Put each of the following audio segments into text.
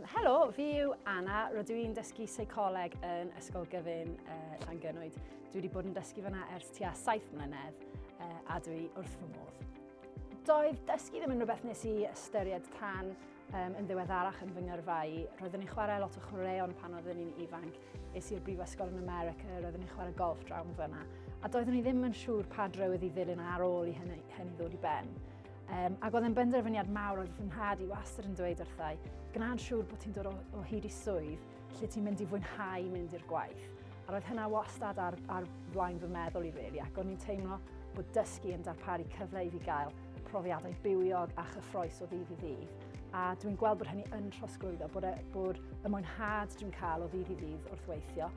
Helo, fi yw Anna, rydw i'n dysgu seicoleg yn Ysgol Gyfun uh, Llangynwyd. Dwi wedi bod yn dysgu fyna ers tua 7 mlynedd uh, a dwi wrth fy modd. Doedd dysgu ddim yn rhywbeth nes i ystyried tan um, yn ddiweddarach yn fy ngyrfau. Roeddwn i'n chwarae lot o chwaraeon pan oeddwn i'n ifanc. Es i'r brifysgol yn America, roeddwn i'n chwarae golf drawn fyna. A doeddwn i ddim yn siŵr pa drywydd i ddilyn ar ôl i hynny, hynny ddod i ben. Um, ac oedd yn benderfyniad mawr oedd fy nhad i wastad yn dweud wrthau, gwna'n siŵr bod ti'n dod o, o hyd i swydd lle ti'n mynd i fwynhau mynd i'r gwaith. A roedd hynna wastad ar, ar flaen fy meddwl i really, ac o'n i'n teimlo bod dysgu yn darparu cyfle i fi gael profiadau bywiog a chyffroes o ddydd i ddydd. A dwi'n gweld bod hynny yn trosglwyddo, bod, e, bod y mwynhad dwi'n cael o ddydd i ddydd wrth weithio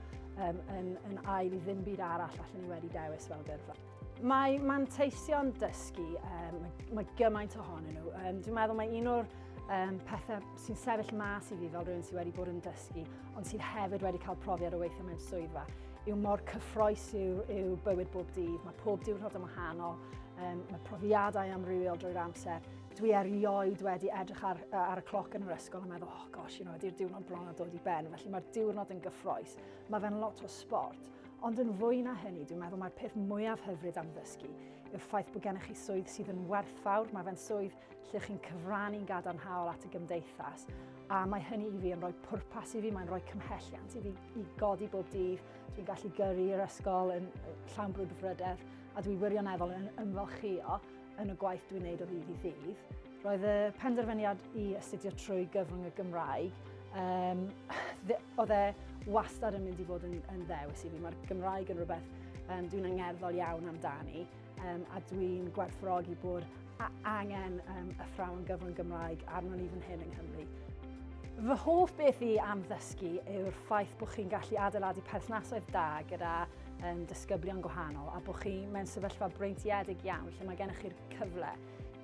um, yn, yn ail i ddim byd arall allan ni wedi dewis fel gyrfa. Mae manteision dysgu, um, mae gymaint ohonyn nhw. Um, dwi'n meddwl mae un o'r um, pethau sy'n sefyll mas i fi fel rhywun sydd wedi bod yn dysgu, ond sydd hefyd wedi cael profiad o weithio mewn swyddfa, yw mor cyffroes yw, yw bywyd bob dydd. Mae pob diwrnod yn wahanol, um, mae profiadau amrywiol drwy'r amser. Dwi erioed wedi edrych ar, ar y cloc yn yr ysgol a meddwl, oh gosh, you know, ydy'r diwrnod bron a dod i ben, felly mae'r diwrnod yn gyffroes. Mae fe'n lot o sport, Ond yn fwy na hynny, dwi'n meddwl mae'r peth mwyaf hyfryd am ddysgu yw'r ffaith bod gennych chi swydd sydd yn werthfawr, mae fe'n swydd lle chi'n cyfrannu'n gadarnhaol at y gymdeithas, a mae hynny i fi yn rhoi pwrpas i fi, mae'n rhoi cymhelliant i fi i godi bob dydd, dwi'n gallu gyrru i'r ysgol yn llawn brwdfrydedd, a dwi wirioneddol yn ymfalchio Yn y gwaith dwi'n neud o ddydd i ddydd, roedd y penderfyniad i astudio trwy gyfrwng y Gymraeg, um, oedd e wastad yn mynd i fod yn, yn ddewis i fi. Mae'r Gymraeg yn rhywbeth um, dwi'n angerddol iawn amdani um, a dwi'n gwerthfawrogi bod angen um, y thrawn gyfrwng Gymraeg arno ni fan hyn yng Nghymru. Fy hoff beth i am ddysgu yw'r ffaith bod chi'n gallu adeiladu perthnasoedd da gyda um, disgyblion gwahanol a bod chi mewn sefyllfa breintiedig iawn lle mae gennych chi'r cyfle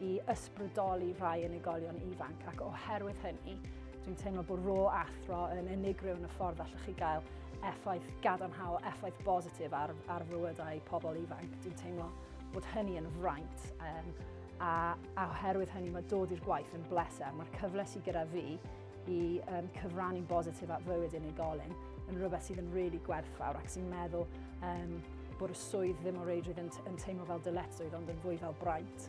i ysbrydoli rhai unigolion ifanc ac oherwydd hynny dwi'n teimlo bod rôl athro yn unigryw yn y ffordd allwch chi gael effaith gadarnhaol, effaith bositif ar, ar fywydau pobl ifanc. Dwi'n teimlo bod hynny yn fraint um, a, a oherwydd hynny mae dod i'r gwaith yn bleser. Mae'r cyfle sydd gyda fi i um, cyfrannu'n bositif at fywyd unigolyn yn rhywbeth sydd yn really gwerthfawr ac sy'n meddwl um, bod y swydd ddim o reidrwydd yn, yn teimlo fel dyledswydd ond yn fwy fel braint.